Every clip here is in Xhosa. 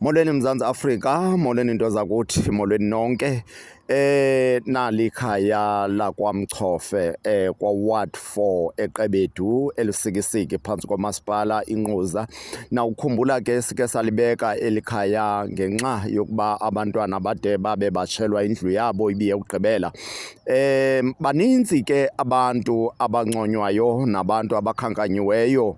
Molweni Mzantsi Afrika, molweni into zakuthi, molweni nonke. Eh nalikhaya lakwaMchofe eh kwa Ward 4 eQebedu elusikisiki phansi komasipala inquza. Na ukukhumbula ke sike salibeka elikhaya ngenxa yokuba abantwana bade babe batshelwa indlu yabo ibiye ukugqibela. Eh baninzi ke abantu abanconywayo nabantu abakhankanyiweyo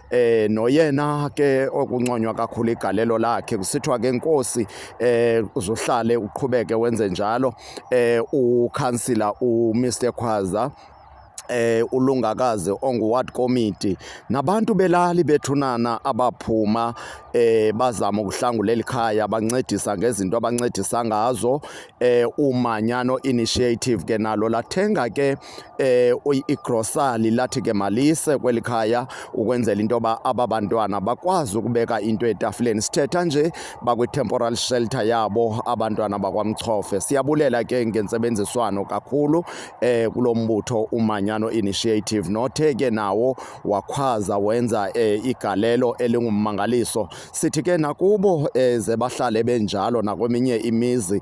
eh noyena ke okunconywa kakhulu igalelo lakhe kusithiwa ke inkosi eh uzohlale uqhubeke wenze njalo eh ukhansila u Mr Khwaza eh ulungakazi onguward committee nabantu belali bethunana abaphuma eh bazama ukuhlangula elikhaya bancedisa ngezinto abancedisa ngazo eh umanyano initiative ke nalo lathenga ke eh, igrosali lathi ke malise kweli khaya ukwenzela into yoba aba bantwana bakwazi ukubeka into etafileni. Sithetha nje bakwi-temporal shelter yabo abantwana bakwaMchofe. Siyabulela ke ngentsebenziswano kakhulu eh, kulo mbutho uManyano Initiative nothe ke nawo wakhwaza wenza eh, igalelo elingummangaliso. Sithi ke nakubo eh, ze bahlale benjalo nakweminye imizi